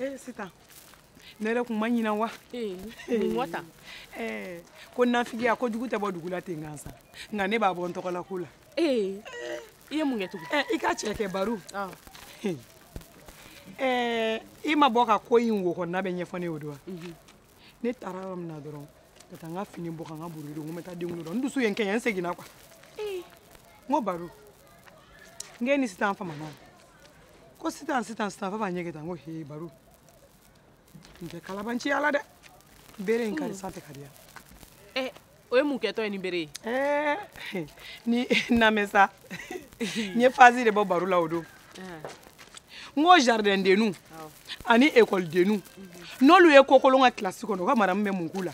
ee eh, sitan ne yɛrɛ kun ma ɲina wa eh, mɔ ta eh, ko nafigiya ko jugu tɛ bɔ dugu la ten gansan nka ne b'a bɔ n tɔgɔ la ko la ee i ye mun kɛ tugun i ka cɛ kɛ baro i ma bɔ ka ko in wo kɔnɔna bɛɛ ɲɛfɔ ne y'o don wa mhm. ne taara yɔrɔ min na dɔrɔn ka taa n ka fini bɔ ka n ka buru don n ko n bɛ taa denwolo dɔn n dusu ye n kɛɲɛ n seginna kuwa n ko baro n k'e ni sitan famana ko sitan sitan sitan f'a b'a ɲɛ kɛ tan n ko he baro n tɛ kalabanciya la dɛ bere in karisa tɛ ka diya eh, o ye mun kɛtɔ ye ni bere ye eh, ni namɛ sa n ye fazi de bɔ baro la o don ah. n ko jardin denu ani école denu mhm. n'olu ye kokolon kɛ kilasi kɔnɔ u ka madamu bɛ mun k'u la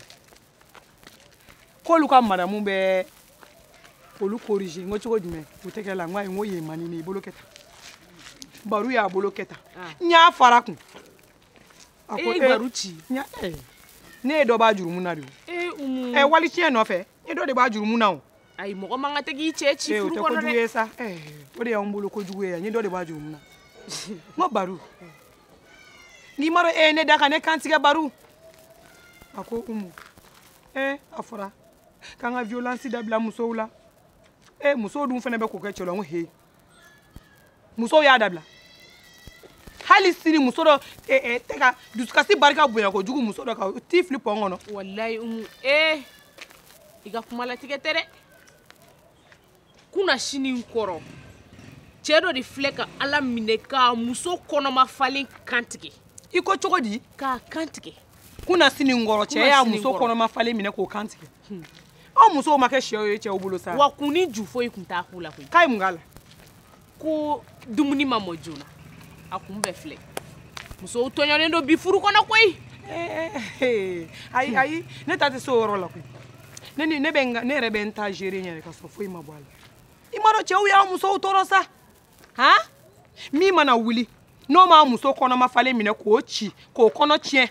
k'olu ka madamu bɛ olu corriger n ko cogo jumɛn u tɛgɛ la n ko ayi n ko yen man di ne ye i bolo kɛ tan baro y'a bolo kɛ tan ah. n y'a fara kun a ko e baro ci ne ye dɔ b'a jurumu na de ɛ wali tiɲɛ nɔfɛ e dɔ de b'a jurumu na o ayi mɔgɔ man kan tɛ k'i cɛ ci furu kɔnɔ dɛ o tɛ kojugu ye sa o de y'anw bolo kojugu ye yan n ye dɔ de b'a jurumu na n ko baro n'i m'a dɔn e ye ne da ka ne kantigɛ baro a ko umu ɛ a fɔra k'an ka violence dabila musow la ɛ musow dun fana bɛ k'o kɛ cɛ la n ko he musow y'a dabila hali sini muso dɔ eh, eh, tɛ ka dusukasi barika bonya kojugu muso dɔ ka t'i fili pɔn kɔnɔ walayi umu ee eh, i ka kuma latigɛ tɛ dɛ kunasinin kɔrɔ cɛ dɔ de filɛ ka ala minɛ k'a muso kɔnɔma falen kantigɛ i ko cogo di k'a kantigɛ kunasinin kɔrɔ cɛ y'a muso kɔnɔma falen minɛ k'o kantigɛ Hmm. anw musow ma kɛ sɛw ye cɛw bolo sa wa kun ni ju foyi kun t'a ko la koyi k'a ye mun k'a la ko dumuni ma mɔ joona a kun bɛɛ filɛ musow tɔɲɔlen don bi furu kɔnɔ koyi eh, eh, eh. ayi ayi ne ta tɛ se o yɔrɔ la koyi ne ni ne bɛ n ka ne yɛrɛ bɛ n ta gérer n yɛrɛ ka sɔrɔ foyi ma bɔ a la i m'a dɔn cɛw y'a musow tɔɔrɔ sa han min mana wuli n'o m'a muso kɔnɔma falen minɛ k'o ci k'o kɔnɔ tiɲɛ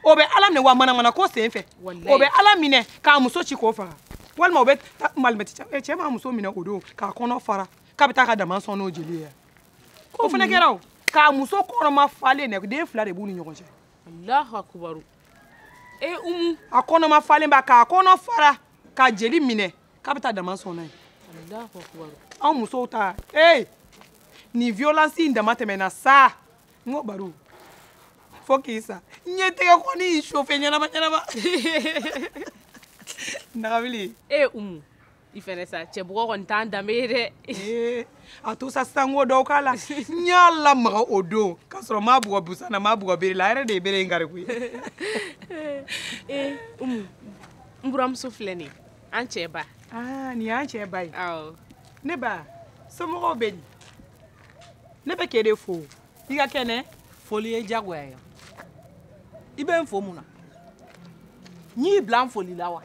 o bɛ ala minɛ wa manamana ko sen fɛ o bɛ ala minɛ k'a muso ci k'o faga walima o bɛ malimɛti cɛ m'a muso minɛ o don k'a kɔnɔ fara k'a bɛ taa ka daman sɔn n'o jeli ye k'o fana kɛra o k'a muso kɔnɔma falen dɛ den fila de b'u ni ɲɔgɔn cɛ alahu akubaru e umu a kɔnɔma falen ba k'a kɔnɔ fara ka jeli minɛ k'a bɛ taa daman sɔn n'a ye alahu akubaru anw musow ta ee nin violence in damatɛmɛna sa n ko baro fo k'i sa ne tɛgɛ kɔni y'i sofe ɲɛnama ɲɛnama nagabili e umu i fɛnɛ sa cɛ bugɔ kɔni t'an danbe ye dɛ eh, a to sa sango dɔw k'a la n y'a lamaga o don k'a sɔrɔ n m'a bugɔ busan na n m'a bugɔ bere la a yɛrɛ de ye bere in kari koyi eh, umu n buramuso filɛ nin an cɛ ba ah, nin y'an cɛ ba ye awɔ ne ba somɔgɔw bɛ di ne bɛ k'e de fo i ka kɛnɛ foli ye diyagoya ye i bɛ n fo mun na n y'i bila n foli la wa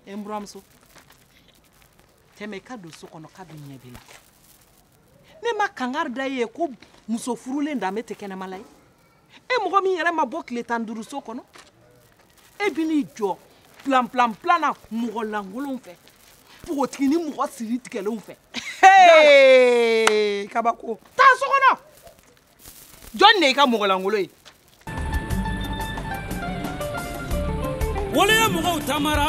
e n buramuso tɛmɛ i ka don so kɔnɔ k'a dɔn ɲɛ b'i la ne ma kankari da i ye ko muso furulen danbe tɛ kɛnɛma la ye e mɔgɔ min yɛrɛ ma bɔ tile tan duuru so kɔnɔ e bi n'i jɔ plan plan plan na mɔgɔ lankolonw fɛ npogotigi ni mɔgɔ siri tigɛlenw fɛ kabako taa so kɔnɔ jɔn de y'i ka mɔgɔ lankolon ye waleya mɔgɔw tamara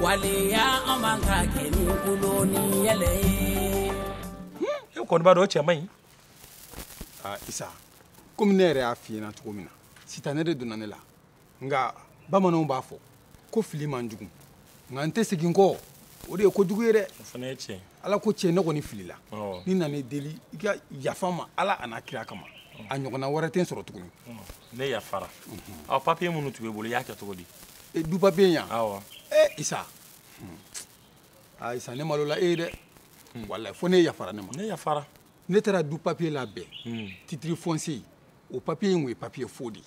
waleya an man'a kɛ ni tulon ni yɛlɛ ye. e kɔni b'a dɔn o cɛ man ɲi. aa isa komi ne yɛrɛ y'a f'i ɲɛna cogo min na sitanɛ de donna ne la nka bamananw b'a fɔ ko fili man jugu nka n tɛ segin kɔ o de ye kojugu ye dɛ. o fana ye tiɲɛ. ala ko tiɲɛ ne kɔni filila. awɔ ne nana i deli i ka yafa n ma ala a n'a kira kama. a ɲɔgɔnna wɛrɛ tɛ n sɔrɔ tuguni. ne yafara. ɔ papiye minnu tun b'i bolo i y'a kɛ cogo di. e du papiye yan awɔ ee isa aa isa ne malola e ye dɛ walayi fo ne yafara ne ma ne yafara ne taara du papiye labɛn hmm. titiri fɔnse o papiye in kun ye papiye fo de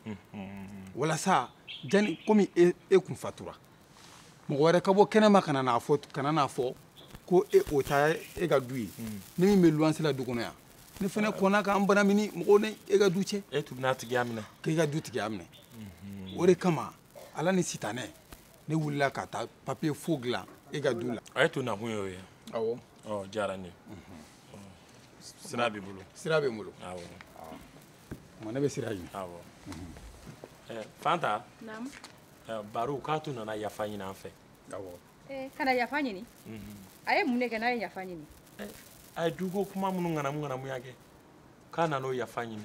ye hmm. walasa jani komi e, e kun fatura mɔgɔ wɛrɛ ka bɔ kɛnɛma kana n'a fɔ kana n'a fɔ ko e o ta e ka du ye hmm. ne min bɛ luwanse la du kɔnɔ yan ne fana kɔnna ka n banamini mɔgɔw ni e ka du cɛ e tun bɛna tigiya minɛ k'e ka du tigiya minɛ mhm. o de kama ala ni sitanɛ ne wulila ka taa papiye fo dilan e ka du la a ye to nakun y'o ye awɔ o diyara n ye mhm. sira b'i bolo sira bɛ n bolo awɔ tuma ne bɛ sira ɲini awɔ mhm. eh, fanta baro k'a tun nana yafa ɲini an fɛ awɔ ka na yafa ɲini mm-hmm. a ye mun de kɛ n'a ye yafa ɲini eh, a ye duko kuma minnu ŋanamu ŋanamuya kɛ k'a nan'o yafa ɲini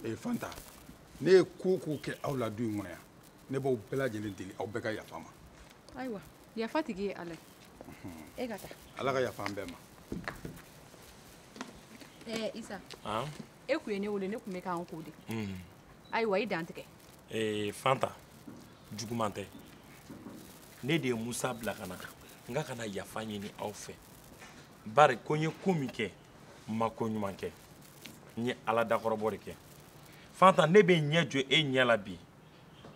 ee eh, fanta ne ye ko o ko kɛ aw la du in kɔnɔ yan ne b'aw bɛɛ lajɛlen deli aw bɛɛ ka yafa n ma ayiwa yafa tigi ye ala ye e ka taa ala ka yafa an bɛɛ ma ee isa e kun ye ne wele ne kun bɛ ka n ko de ayiwa i dantigɛ ee fanta juguman tɛ ne de ye musa bila ka na n k'a ka na yafa ɲini aw fɛ bari ko n ye ko min kɛ n ma ko ɲuman kɛ n ye ala dakɔrɔbɔ de kɛ fanta ne bɛ n ɲɛ jɔ e ɲɛ la bi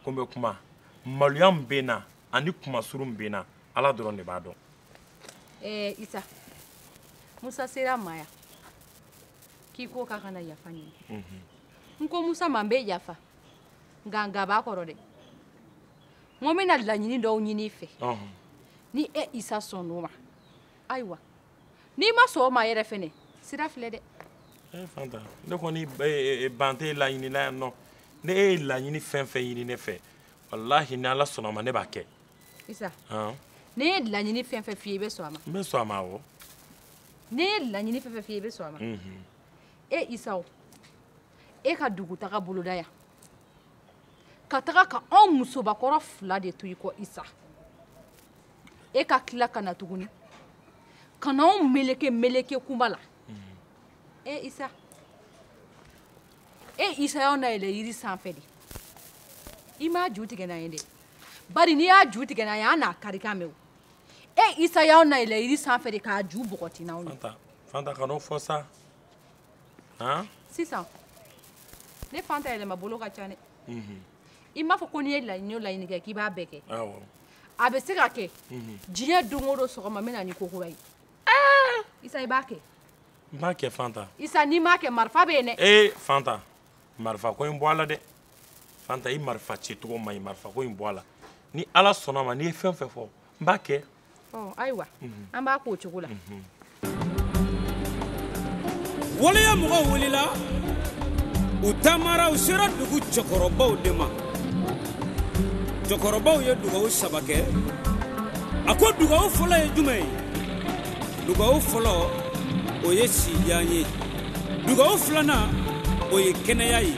ko n bɛ kuma maloya min bɛ n na ani kunmasuuru min bɛ n na ala dɔrɔn de b'a dɔn. ɛɛ eh, isa musa sera n ma yan k'i ko k'a ka na yafa ɲini mhm. n ko musa ma n bɛ yafa. nka nka b'a kɔrɔ dɛ n ko n bɛna laɲini dɔw ɲini i fɛ ni e isa sɔnn'o ma ayiwa n'i ma sɔn o ma yɛrɛ fɛnɛ sira filɛ dɛ. Eh, fanta ne kɔni eh, eh, ban tɛ laɲini la yan nɔ ni e ye laɲini fɛn fɛn ɲini ne fɛ walahi ni ala sɔnn'a ma ne b'a kɛ. isa ne ye laɲini fɛn fɛn f'i ye i bɛ sɔn a ma. n bɛ sɔn a ma awɔ. ne ye laɲini fɛn fɛn f'i ye i bɛ sɔn a ma. e isa o. e ka dugutaga boloda yan ka taga ka anw musobakɔrɔ fila de to i kɔ isa e ka tila ka na tuguni ka na anw meleke meleke kuma la e isa e isa y'anw nayɛlɛ yiri sanfɛ de i m'a ju tigɛ n'an ye dɛ bari n'i y'a ju tigɛ n'an ye an n'a karikan mɛn o e isa y'anw nayɛlɛ yiri sanfɛ de k'a ju bɔgɔti n'anw ye fanta fanta kan'o fɔ sa han sisan ne fanta yɛlɛma bolo ka ca dɛ mhm. i m'a fɔ ko n'i ye laɲini o laɲini kɛ k'i b'a bɛɛ kɛ a bɛ se ka kɛ mhm. diɲɛ don o don sɔgɔma n bɛ na ni ko kura ye ah! isa i b'a kɛ n b'a kɛ fanta isa n'i m'a kɛ marifa bɛ yen dɛ ee fanta marifa ko in bɔ a la dɛ fanta i marifa ci cogo man ɲi marifa ko in bɔ a la ni ala sɔnna a ma n'i ye fɛn o fɛn fɔ n b'a kɛ ayiwa an b'a k'o cogo la waleya mɔgɔw wulila u taamara u sera dugu cɛkɔrɔbaw de ma cɛkɔrɔbaw ye dugawu saba kɛ a ko dugawu fɔlɔ ye jumɛn ye dugawu fɔlɔ o ye sijan ye dugawu filanan o ye kɛnɛya ye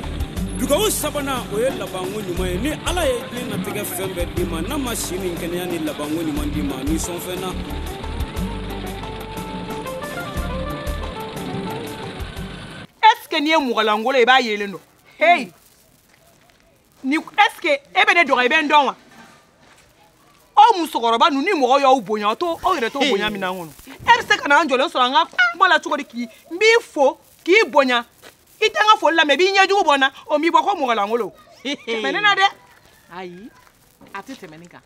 dugawu sabanan o ye labanko ɲuman ye ni ala ye diɲɛnatigɛ fɛn bɛɛ d'i ma n'a ma si ni kɛnɛya ni labanko ɲuman d'i ma ni sɔnfɛn na est ce que n'i ye mɔgɔlankolon i b'a yelen dɔn heyi ni est ce que e bɛ ne dɔgɔ i bɛ n dɔn wa aw musokɔrɔba ninnu ni mɔgɔ y'aw bonya aw t'aw yɛrɛ to bonya min na n kɔnɔ e bɛ se ka na an jɔlen sɔrɔ an ka kuma la cogo di k'i n b'i fo k'i bonya i tɛ n ka foli lamɛn i b'i ɲɛjugu bɔ n na o m'i bɔ ko mɔgɔlankolon tɛmɛ ne na dɛ ayi a tɛ tɛmɛ nin kan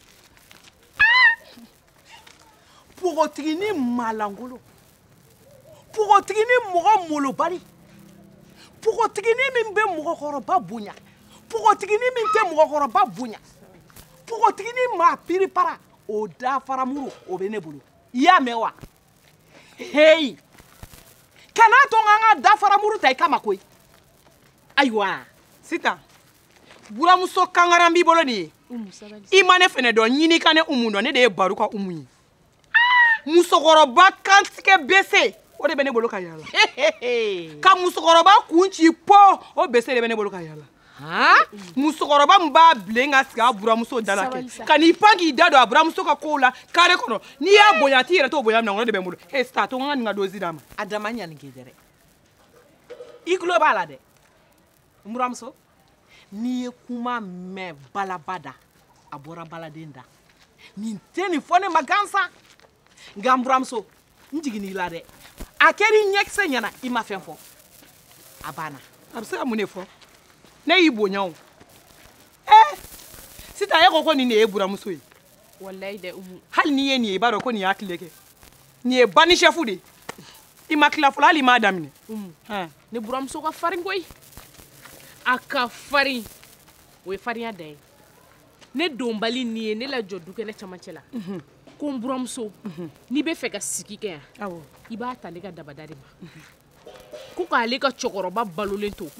npogotiginin maalankolon pogotiginin mɔgɔ molobali pogotiginin min bɛ mɔgɔkɔrɔba bonya pogotiginin min tɛ mɔgɔkɔrɔba bonya pogotiginin maa piripara o dafaramuru o bɛ ne bolo i y'a mɛn wa heyi kana to n ka n ka dafaramuru ta i kama koyi ayiwa sitan buramuso kankaran b'i bolo nin ye i ma ne fɛnɛ dɔn ɲini ka ne umu dɔn ne de ye baro ka umu ye musokɔrɔba kantigɛ bese o de bɛ ne bolo ka yala ka musokɔrɔba kun ci po o bese de bɛ ne bolo ka yala musokɔrɔba min b'a bilen ka sigi a buramuso da la kɛ ka n'i pan k'i da don a buramuso ka kow la kare kɔnɔ n'i y'a bonya a t'i yɛrɛ t'o bonya minɛ o de bɛ n bolo e sitan to n ka nin ka dozi d'a ma a dama ɲani k'i dɛ dɛ i tulo b'a la dɛ n buramuso n'i ye kuma mɛn balaba da a bɔra baladen da nin tɛ nin fɔ ne ma gansan nka n buramuso n jiginn'i la dɛ a kɛr'i ɲɛkisɛ ɲɛna i ma fɛn fɔ a banna a bɛ se ka mun de fɔ ne y'i bonya o ee sitan e ko ko nin de ye buramuso ye walayi dɛ umu hali n'i ye nin ye i b'a dɔn ko nin y'a tile kɛ nin ye bandi sɛfu de ye i ma tila fɔlɔ hali i m'a daminɛ ne buramuso ka farin koyi a ka farin o ye farinya dan ye ne donbali nin ye ne lajɔ dukɛnɛ camancɛ la ko n buramuso n'i bɛ fɛ ka sigi kɛ yan i b'a ta ale ka dabada de ma ko k'ale ka cɛkɔrɔba balolen to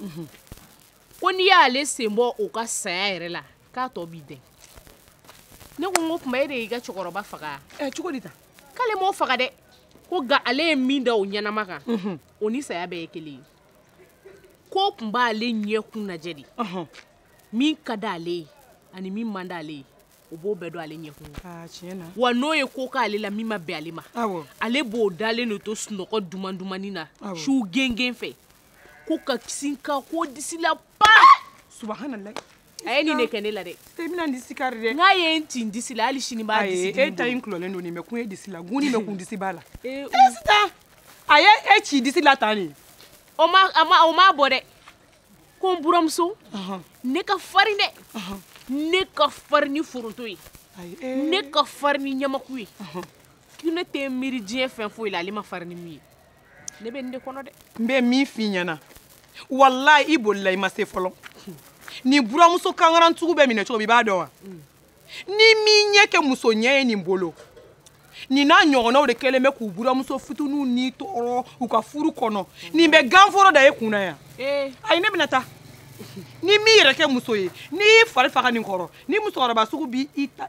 ko n'i y'ale sen bɔ o ka saya yɛrɛ la k'a tɔ b'i dɛn ne ko n k'o tuma e de y'i ka cɛkɔrɔba faga ɛ cogo di tan k'ale m'o faga dɛ ko nka ale ye min da o ɲɛnama kan mhm. o ni saya bɛɛ ye kelen ye k'o tun b'ale ɲɛkun lajɛ de mhm. min ka d'ale ye ani min man d'ale ye o b'o bɛɛ dɔn ale ɲɛkun tiɲɛ na wa n'o ye ko k'ale la min ma bɛn ale ma ale b'o dalen de to sunɔgɔ duman dumanni na su gengen fɛ ko ka kisi ka ko disi la pa subahana a ye nin de kɛ ne la dɛ tun bɛna n disi kari dɛ n'a ye n ci n disi la hali sini b'a disi e ta in kulɔlen don nin mɛ kun ye disi la guni bɛ kun disi b'a la e sitan a ye e ci disi la tan de o ma a ma o ma bɔ dɛ ko n buramuso ne ka farin dɛ ne ka farin ni foronto ye e. ne ka farin ni ɲamaku ye ko ne tɛ miiri diɲɛ fɛn foyi la ale ma farin ni min ye ne bɛ nin de kɔnɔ dɛ n bɛ min f'i ɲɛna walayi i bolila i ma se fɔlɔ nin buramuso kankaran sugu bɛ minɛ cogo min i b'a dɔn wa ni min ɲɛ kɛ muso ɲɛ ye nin bolo nin n'a ɲɔgɔnnaw de kɛlen bɛ k'u buramuso fitininw tɔɔrɔ u ka furu kɔnɔ nin bɛ ganforo da e kun na yan ayi ne bɛna taa ni min yɛrɛ kɛ muso ye n'i y'i fari faga nin kɔrɔ nin musokɔrɔba sugu b'i ta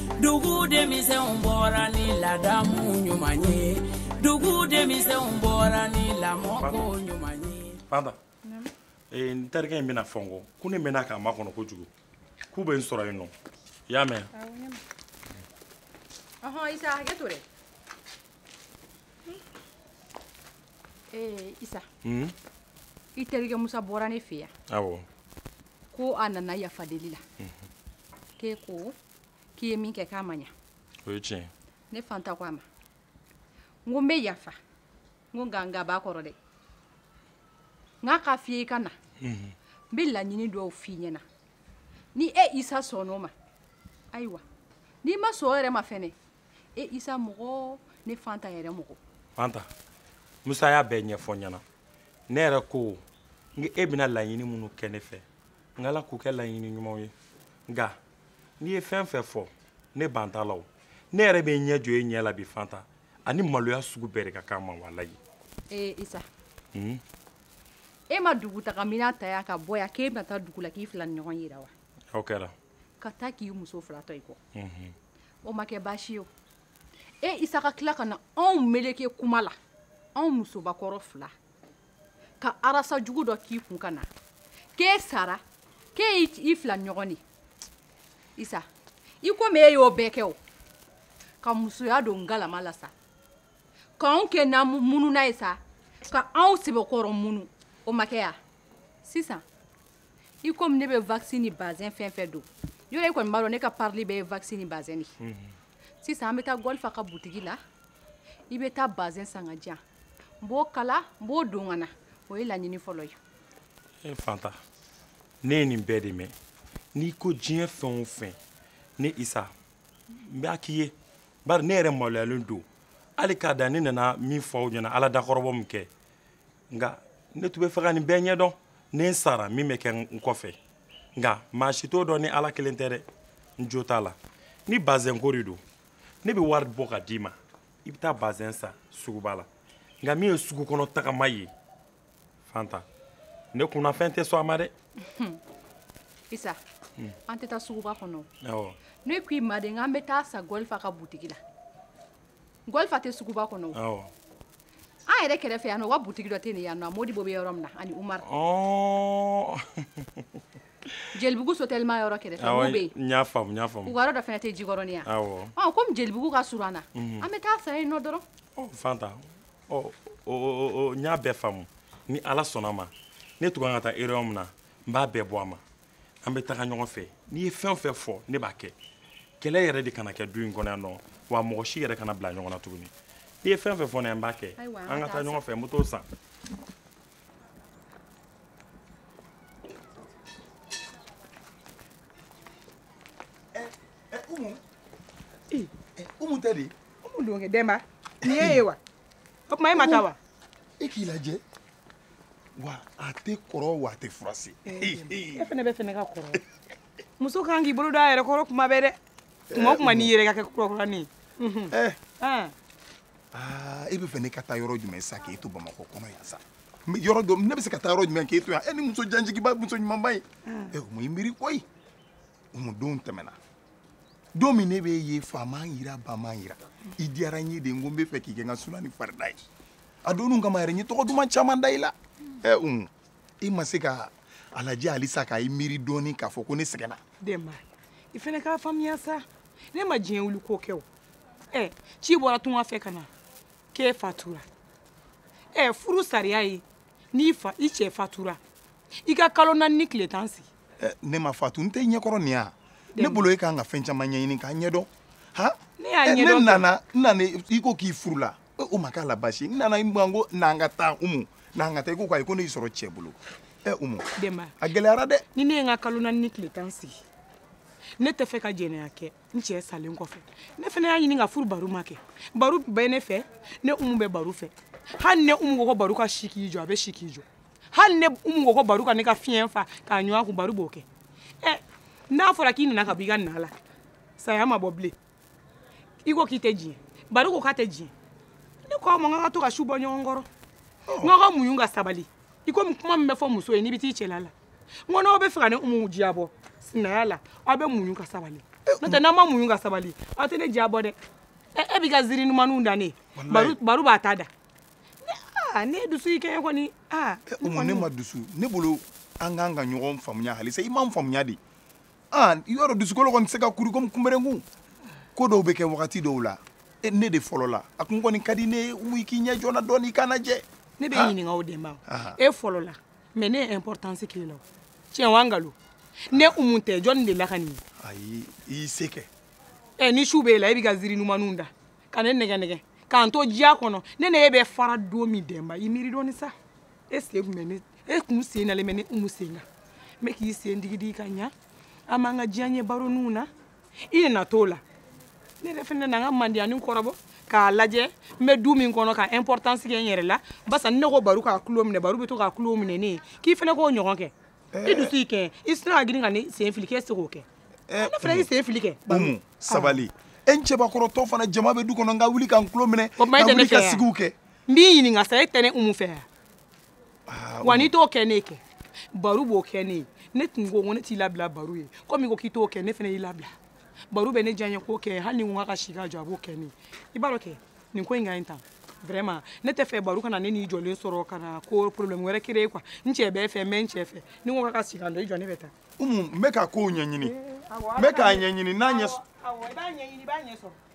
dugu denmisɛnw bɔra ni ladamu ɲuman ye dugu denmisɛnw bɔra ni lamɔko ɲuman ye. fanta ee, n terikɛ in bɛna fɔ n kɔ ko ne mɛnna k'a makɔnɔ kojugu k'u bɛ n sɔrɔ yen nɔ i y'a mɛn. ɔhɔn isa hakɛ to dɛ. ee isa. Hmm? i terikɛ musa bɔra ne fɛ yan. awɔ. ko a nana yafa deli la. Hmm. k'e ko. k'i ye min kɛ k'a ma ɲa o ye tiɲɛ ne fanta ko a ma n ko n bɛ yafa n ko nka nka b'a kɔrɔ dɛ n k'a ka f'i ye i ka na n bɛ laɲini dɔw f'i ɲɛna ni e isa sɔnn'o ma ayiwa n'i ma sɔn o yɛrɛ ma fɛnɛ e isa mɔgɔ ne fanta yɛrɛ mɔgɔ fanta musa y'a bɛɛ ɲɛfɔ n ɲɛna ne yɛrɛ ko e bɛna laɲini minnu kɛ ne fɛ n k'ala k'u kɛ laɲini ɲumanw ye nka n'i ye fɛn fɛn fɔ ne ban t'a la o ne yɛrɛ bɛ ɲɛ jɔ e ɲɛ la bi fanta ani maloya sugu bɛɛ de ka kan n ma walayi. ee isa. Hmm? e ma dugutaga minan ta yan ka bɔ yan k'e bɛna taa dugu la k'i filaninɲɔgɔn yira wa. o kɛra. ka taa k'i muso fila to i kɔ. Mhm. o ma kɛ baasi ye o. e isa ka tila ka na anw meleke kuma la anw musobakɔrɔ fila ka arasa jugu dɔ k'i kun ka na k'e sara k'e y'i fila ɲɔgɔn de isa i komi e y'o bɛɛ kɛ o ka musoya don galama la sa k'anw kɛ na mununan ye sa ka anw sɛbɛkɔrɔ munu o ma kɛ ya sisan i komi ne bɛ wakisi ni bazɛn fɛn fɛn don yɔrɔ e kɔni b'a dɔn ne ka parili bɛɛ ye wakisi ni bazɛn de sisan an bɛ taa gɔlifa ka butigi la i bɛ taa bazɛn san ka di yan n b'o kala n b'o don ka na o ye laɲini fɔlɔ ye e fanta ne ye nin bɛɛ de mɛn n'i ko diɲɛ fɛn o fɛn ne isa n b'a k'i ye bari ne yɛrɛ maloyalen don hali k'a da ne nana min fɔ aw ɲɛna ala dakɔrɔbɔ min kɛ nka ne tun bɛ fɛ ka nin bɛɛ ɲɛdɔn ni n sara min bɛ kɛ n kɔfɛ nka maa si t'o dɔn ni ala kelen tɛ dɛ n jo t'a la ni bazɛnko de don ne bɛ wari bɔ ka d'i ma i bɛ taa bazɛn san suguba la nka min ye sugu kɔnɔ tagama ye fanta ne kunnafɛn tɛ sɔn a ma dɛ. isa an tɛ taa suguba kɔnɔ. awɔ. ne ko i ma de n k'an bɛ taa san gɔlifa ka butigi la gɔlifa tɛ suguba kɔnɔ. awɔ. an yɛrɛ kɛrɛfɛ yan nɔ u ka butigi dɔ tɛ nin yan nɔ modibo bɛ yɔrɔ min na ani umaru. ɔɔ. jelibugu sotelima yɔrɔ kɛrɛfɛ n'u bɛ yen n y'a faamu n y'a faamu u ka yɔrɔ dɔ fana tɛ jikɔrɔni yan awɔ ɔ komi jelibugu ka surun an na an bɛ taa san yen nɔ dɔrɔn ɔ fanta ɔ o o n y'a bɛɛ faamu ni ala sɔnna a ma ne tun kan ka taa erreur min na n b'a bɛɛ bɔ a ma an bɛ taga ɲɔgɔn fɛ n'i ye fɛn o fɛn fɔ ne b'a kɛ kɛlɛ yɛrɛ de kana kɛ du in kɔnɔ yan nɔ wa mɔgɔ si yɛrɛ kana bila ɲɔgɔn na tuguni n'i ye fɛn o fɛn fɔ ne ye n b'a kɛ an ka taa ɲɔgɔn fɛ n bɛ t'o san umu tɛ de umu don kɛ denba nin y'e ye wa o tuma e ma taa wa e k'i lajɛ wa a tɛ kɔrɔ wa a tɛ furase e fana bɛ fɛ ne ka kɔrɔ muso kan k'i bolo don a yɛrɛ kɔrɔ kuma bɛɛ dɛ tuma o tuma n'i yɛrɛ ka kɛ kurakurani ye aa e bɛ fɛ ne ka taa yɔrɔ jumɛn sa k'e to bamakɔ kɔnɔ yan sa yɔrɔ dɔ ne bɛ se ka taa yɔrɔ jumɛn k'e to yan e ni muso janjigiba muso ɲumanba ye ɛ umu i miiri koyi umu don tɛmɛna don min ne b'e ye fa m'an yira ba m'an yira i diyara n ye de n ko n bɛ fɛ k'i kɛ n ka suna ni farida ye a don kama yɛrɛ n ye tɔgɔ duman caman da i la ɛ umu i ma se ka a lajɛ halisa ka i miiri dɔɔnin k'a fɔ ko ne sɛgɛnna denba i fana k'a faamuya sa ne ma diɲɛ wuli ko kɛ o ɛ ci bɔra tunga fɛ ka na k'e fatura ɛ furu sariya ye n'i fa i cɛ fatura i ka kalo naani ni tile tan sigi ne ma fatu n t'i ɲɛkɔrɔ nin ya ne bolo e kan ka fɛn caman ɲɛɲini k'a ɲɛdɔn han ne nana n nana i ko k'i furula o ma k'a la baasi n nana i ma ko n'an ka taa umu n'an ka taa i ko k'ayi ko ne y'i sɔrɔ cɛ bolo ɛ umu a gɛlɛyara dɛ ni ne ye n ka kalo naani ni tile tan sigi ne tɛ fɛ ka jɛnɛya kɛ n cɛ salen kɔfɛ ne fana y'a ɲini ka furu baro ma kɛ baro bɛ ne fɛ ne umu bɛ baro fɛ hali ne umu ko ko baro ka si k'i jɔ a bɛ si k'i jɔ hali ne umu ko ko baro ka ne ka fiɲɛ fa k'a ɲɔgɔn kun baro b'o kɛ ɛ n'a fɔra k'i nana ka bɔ i ka na la saya ma bɔ bilen i ko k'i tɛ diɲɛ baro ko k'a tɛ diɲɛ ne ko a ma n ka to ka su bɔ ɲɔgɔn kɔrɔ n ka muɲu ka sabali i komi kuma min bɛ fɔ muso ye n'i bɛ t'i cɛla la n ko n'aw bɛ fɛ ka ne umu diyabɔ sinaya la aw bɛ muɲu ka sabali n'o tɛ n'aw ma muɲu ka sabali aw tɛ ne diyabɔ dɛ e b'i ka ziiri ɲumanninw da ne baro b'a ta da ne dusu y'i kɛɲɛ kɔni umu ne ma dusu ne bolo an ka an ka ɲɔgɔn faamuya halisa i m'an faamuya de i y'a dɔn dusukolo kɔni tɛ se ka kuru komi kunberenkun ko dɔw bɛ kɛ wagati dɔw la e, ne de fɔlɔ la a kun kɔni ka di ne ye umu i k'i ɲɛ jɔ n na dɔɔni i kana jɛ ne bɛ ɲininka o de ma e fɔlɔ la mais ne ye importance k'i la tiɲɛ wa nkalon ne umu tɛ jɔni de la ka nin ye ayi i y'i se kɛ ɛ ni su b'e la e b'i ka ziri numaniw da ka ne nɛgɛ nɛgɛ k'an to diya kɔnɔ ne ne e bɛ fara don min dɛnba i miiri dɔɔni sa e sen kun bɛ ne e kun sen nalen bɛ ne umu sen kan n bɛ k'i sen digidigi ka ɲa an b'an ka diyaɲɛ baroninw na i na t'o la ne yɛrɛ fɛnɛ na n ka mandiyani kɔrɔbɔ k'a lajɛ n bɛ du min kɔnɔ ka importance kɛ n yɛrɛ la barisa ne ko baro k'a tulo minɛ baro bɛ to k'a tulo minɛ ne ye k'i fɛnɛ k'o ɲɔgɔn kɛ i dusu y'i kɛ i sina ka girin ka ne sen fili k'e se k'o kɛ ne fɛnɛ y'i sen fili kɛ umu sabali e n cɛbakɔrɔtɔ fana jama bɛ du kɔnɔ n ka wuli ka n tulo minɛ ka wuli ka sigiw kɛ n b'i ɲininka sa e tɛ ne umu fɛ yan ah, wa n'i t'o kɛ ne kɛ baro b'o kɛ ne ye ne tun ko ko ne t'i labila baro ye komi ko k'i t'o kɛ ne fana y'i labila baro bɛ ne diya n ye k'o kɛ hali ni n ko k'a ka si ka jɔ a b'o kɛ ne ye i b'a dɔn kɛ nin ko in ka ɲi tan vraiment ne t'a fɛ baro ka na ne n'i jɔlen sɔrɔ ka na ko problème wɛrɛ créer quoi n cɛ bɛ n fɛ n bɛ n cɛ fɛ ni n ko k'a ka si ka jɔ i jɔ ne bɛ taa umu n bɛ ka kow ɲɛɲini n bɛ k'a ɲɛɲini n'a ɲɛ awɔ i b'a ɲɛɲini i b'a ɲɛ sɔrɔ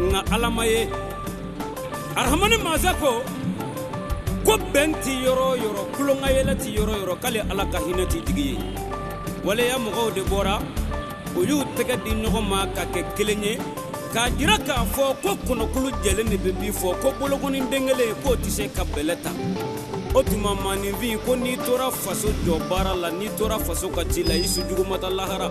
nka Ala ma ye arahamani masa ko ko bɛn tɛ yɔrɔ o yɔrɔ tulonkayɛlɛ tɛ yɔrɔ o yɔrɔ k'ale Ala ka hinɛ tɛ jigi yen waleya mɔgɔw de bɔra u y'u tɛgɛ di ɲɔgɔn ma ka kɛ kelen ye k'a jira k'a fɔ ko kɔnɔkulu jɛlen de bɛ bii fɔ ko bolokɔni den kelen k'o tɛ se ka bɛlɛ ta o tuma maaninfin ko n'i tora faso jɔ baara la n'i tora faso ka ci la i su jugu ma taa lahara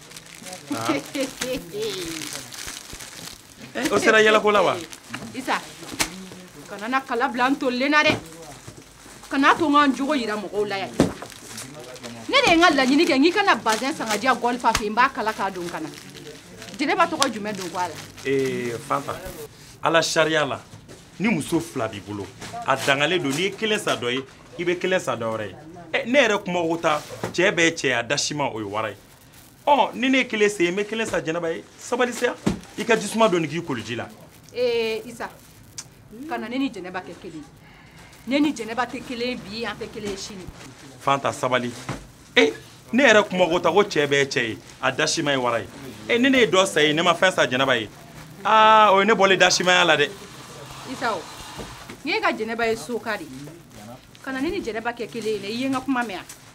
o sera yɛlɛko la wa isa kana na kala bila n tolilen na dɛ kana to n ka n jogo yira mɔgɔw la yan ne de ye n ka laɲini kɛ n k'i ka na bazɛn san ka diya gɔlifa fɛ n b'a kala k'a don ka na jɛnɛba tɔgɔ jumɛn don ko a la ee fanta ala sariya la ni muso fila b'i bolo a dagalen don n'i ye kelen san dɔ ye i bɛ kelen san dɔ wɛrɛ ye ne yɛrɛ kuma ko ta cɛ bɛɛ cɛ ye a dasima o ye wara ye ɔ ni ne ye kelen san i ye n bɛ kelen san jɛnɛba ye sabali sa i ka jisuma dɔɔni k'i koliji la ee isa kana ne ni jɛnɛba kɛ kelen ne ni jɛnɛba tɛ kelen bi an tɛ kelen sini fanta sabali e ne yɛrɛ kuma ko ta ko cɛ bɛɛ cɛ ye a dasima ye wara ye e ni ne ye dɔ san i ye ne ma fɛn san jɛnɛba ye aa o ye ne bɔlen dasimaya la dɛ isa o n ye ka jɛnɛba ye soka de kana ne ni jɛnɛba kɛ kelen ye dɛ i ye n ka kuma mɛn wa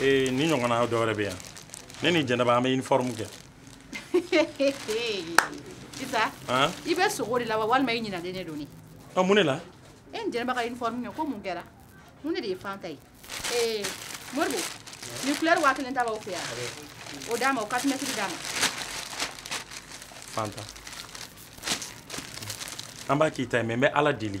ee ni ɲɔgɔnna dɔ wɛrɛ bɛ yan ne ni jɛnɛba an bɛ uniforme kɛ isa i bɛ sogo de la wa walima i ɲinalen de don ne a mun de la e ni jɛnɛba ka uniforme kɛ ko mun kɛra mun de de ye fanta ye ee moribo ni couleur waa kelen ta b'aw fɛ yan o d'a ma o quatre mètres d'a ma fanta an b'a k'i ta ye mais n bɛ ala deli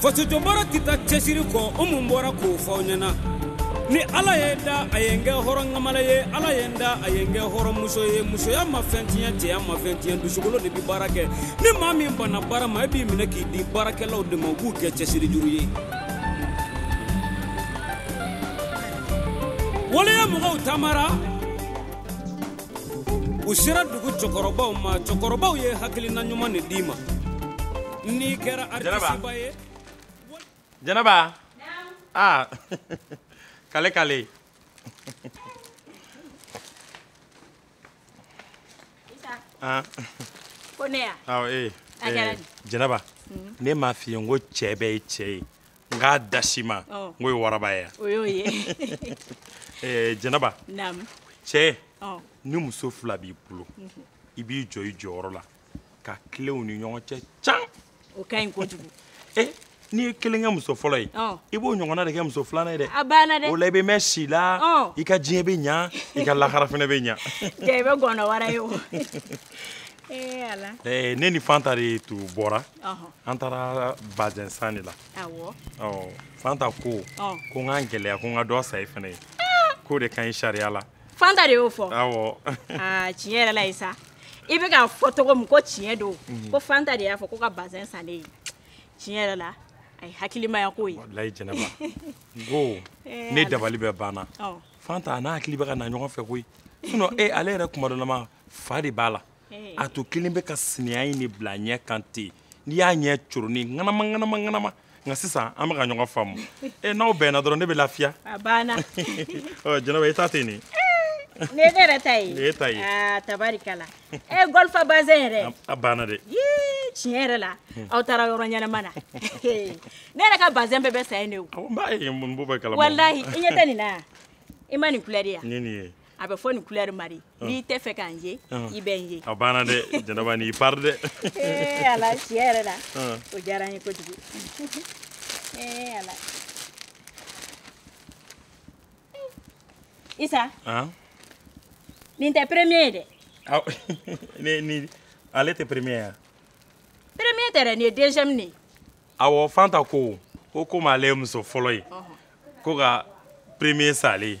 fasojɔbaara tɛ taa cɛsiri kɔ o mun bɔra k'o fɔ aw ɲɛna ni ala ye n da a ye n kɛ hɔrɔn ŋamala ye ala ye n da a ye n kɛ hɔrɔnmuso ye musoya ma fɛn tiɲɛ cɛya ma fɛn tiɲɛ dusukolo de bɛ baara kɛ ni maa min banna baara ma e b'i minɛ k'i di baarakɛlaw de ma u b'u kɛ cɛsiri juru ye waleya mɔgɔw taamara u sera dugu cɛkɔrɔbaw ma cɛkɔrɔbaw ye hakilina ɲuman de d'i ma n'i kɛra artisiba ye jɛnɛba aa ah. kale kale ah. ko ne ya awɔ ee jɛnɛba ne m'a f'i ye n ko cɛ bɛɛ ye cɛ ye nka dasima n k'o ye waraba ye yan o y'o ye eh, jɛnɛba cɛ ni muso fila b'i bolo mhm. i b'i jɔ i jɔyɔrɔ la ka tilen u ni ɲɔgɔn cɛ can o ka ɲi kojugu eh, n'i ye kelen kɛ muso fɔlɔ ye i b'o ɲɔgɔnna de kɛ muso filanan ye dɛ a banna dɛ o la i bɛ mɛn si la i ka diɲɛ bɛ ɲa i ka lahara fana bɛ ɲa i bɛ gɔnɔ wara ye o Eh, eh, ne ni fanta de tun bɔra an taara bazɛn san de la fanta ko ko an k'an gɛlɛya ko an ka dɔ san i fana ye ah! k'o de ka ɲi sariya la fanta de y'o fɔ ah, tiɲɛ yɛrɛ la isa i bɛ k'a fɔ cogo min ko tiɲɛ don mhm. ko fanta de y'a fɔ ko ka bazɛn san ne ye tiɲɛ yɛrɛ la a ye hakilimaya ko ye walayi jɛnɛba n ko eh, ne dabali bɛɛ banna fanta a n'a hakili bɛ ka na ɲɔgɔn fɛ koyi sinon e ale yɛrɛ kuma dɔ la ma fa de b'a la a tun kɛlen bɛ ka sinaya in de bila ɲɛ kan ten n'i y'a ɲɛ coroni ŋanama ŋanama ŋanama nka sisan an bɛ ka ɲɔgɔn faamu e n'aw bɛnna dɔrɔn ne bɛ lafiya a banna jɛnɛba i ta tɛ nin nin ye ne yɛrɛ ta ye nin y'e ta ye aa tabarikala e gɔlifa bazɛn yɛrɛ a banna dɛ yii tiɲɛ yɛrɛ la aw taara yɔrɔ ɲɛnama na ne yɛrɛ ka bazɛn bɛɛ bɛ san yen de o n b'a ye n b'o bɛɛ kalama walahi i ɲɛ tɛ nin na yan i ma nin kulɛri ye nin nin ye a bɛ fɔ nin couleur ma di ah. n'i t'a fɛ ka n ye ah. i bɛ n ye a banna dɛ jɛnɛba n'i pari dɛ ee eh, ala tiɲɛ yɛrɛ la ah. o diyara n ye kojugu ee eh, ala isa nin tɛ premier ye dɛ ni ni ale tɛ premier ye premier tɛ dɛ nin ye deuxième de ye awɔ fanta ko ko komi ale ye muso fɔlɔ ye ko ka premier san ale ye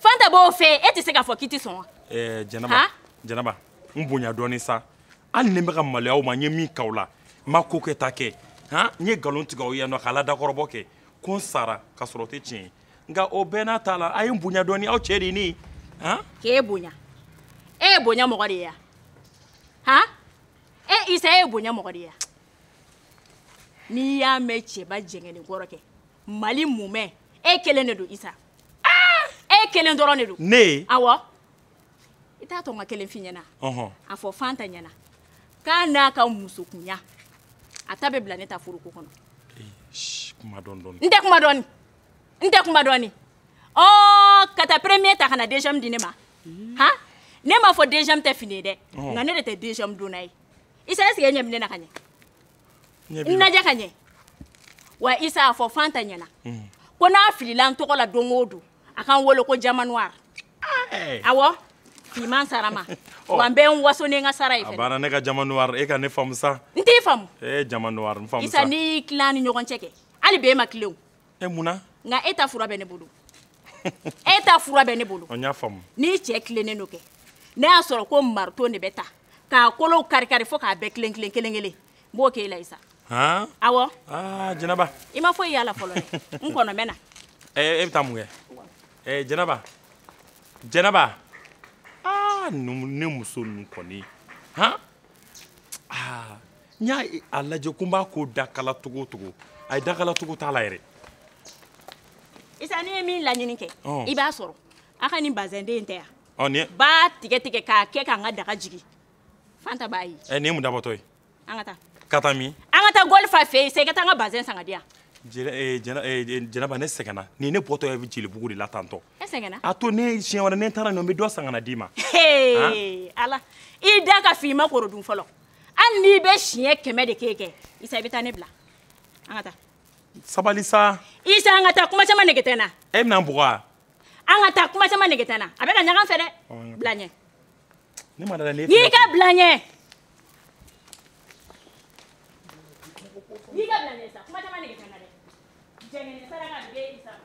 fanta b'o fɛ e tɛ se k'a fɔ k'i tɛ sɔn wa. ɛɛ jɛnɛba jɛnɛba n bonya dɔɔnin sa hali ni n bɛ ka maloya aw ma n ye min k'aw la n ma ko kɛta kɛ han n ye nkalon tigɛ aw ye yan nɔ k'a la dakɔrɔbɔ kɛ ko n sara ka sɔrɔ o tɛ tiɲɛ ye nka o bɛɛ n'a ta la a ye n bonya dɔɔnin aw cɛ de ye ne ye han. k'e bonya e ye bonya mɔgɔ de ye yan han e isa e ye bonya mɔgɔ de ye yan. n'i y'a mɛn cɛba jɛngɛnen kɔrɔ kɛ mali mumɛ e kelen de don isa ah! e kelen dɔrɔn de don ne awɔ i t'a to n ka kelen f'i ɲɛna a fɔ fanta ɲɛna k'a n'a ka musokunya a ta bɛ bila ne ta foroko kɔnɔ n tɛ kuma dɔɔni n tɛ kuma dɔɔni o ka taa premier ta ka na deuxième di ne ma han ne m'a fɔ deuxième tɛ fini ye dɛ nka ne de tɛ deuxième donna ye isa est ce que e ɲɛ bɛ ne na ka ɲɛ n lajɛ ka ɲɛ wa isa a fɔ fanta ɲɛna hmm. ko n'a filila n tɔgɔ la don o don a ka n wele ko diamant noir awɔ fiman sarama oh. wa n bɛ n waso ni n ka sara ye fɛnɛ a banna ne ka diamant noir e ka ne faamu sa n t'i faamu ee eh, diamant noir n faamu sa isa n'i y'i tilan ni ɲɔgɔn cɛ kɛ hali b'e ma tilen o e mun na nka e ta fura bɛ ne bolo e ta fura bɛ ne bolo n y'a faamu n'i cɛ tilennen don kɛ ne y'a sɔrɔ ko marteau de bɛ ta k'a kolow karikari fo k'a bɛɛ kelen kelen kelen kelen n b'o k'e la isa awɔ jɛnɛba i ma foyi y'a la fɔlɔ dɛ n kɔnɔ n bɛ na e bɛ taa mun kɛ jɛnɛba jɛnɛba ne muso ninnu kɔni han n y'a lajɛ ko n b'a ko dakala tugu tugu ayi dakala tugu t'a la yɛrɛ isa n'i ye min laɲini kɛ i b'a sɔrɔ a ka nin bazɛnden in tɛ an b'a tigɛ tigɛ k'a kɛ k'an ka daga jigi fanta b'a ye nin ye mun dabɔtɔ ye an ka taa ka taa min an ka taa golfa fɛ yen sa i ka taa an ka bazɛn san ka di yan jɛnɛba ne sɛgɛnna nin ne bɔtɔ ye jelibugu de la tantɔ e sɛgɛnna a to ni siɲɛ wɛrɛ ne taara ne bɛ dɔ san ka na d'i ma ala i da ka f'i ma koro dun fɔlɔ hali n'i bɛ siɲɛ kɛmɛ de kɛ kɛ isa i bɛ taa ne bila an ka taa sabali sa isa an ka taa kuma caman nege tɛ n na e bɛna n bugɔ an ka taa kuma caman nege tɛ n na a bɛ ka ɲagan fɛ dɛ bila ɲɛ ne ma d'a la ne y'i ka bila ɲɛ y'i ka bila ɲɛ sa kuma caman nege tɛ n na dɛ jɛngɛnen saraka a bɛ isa ma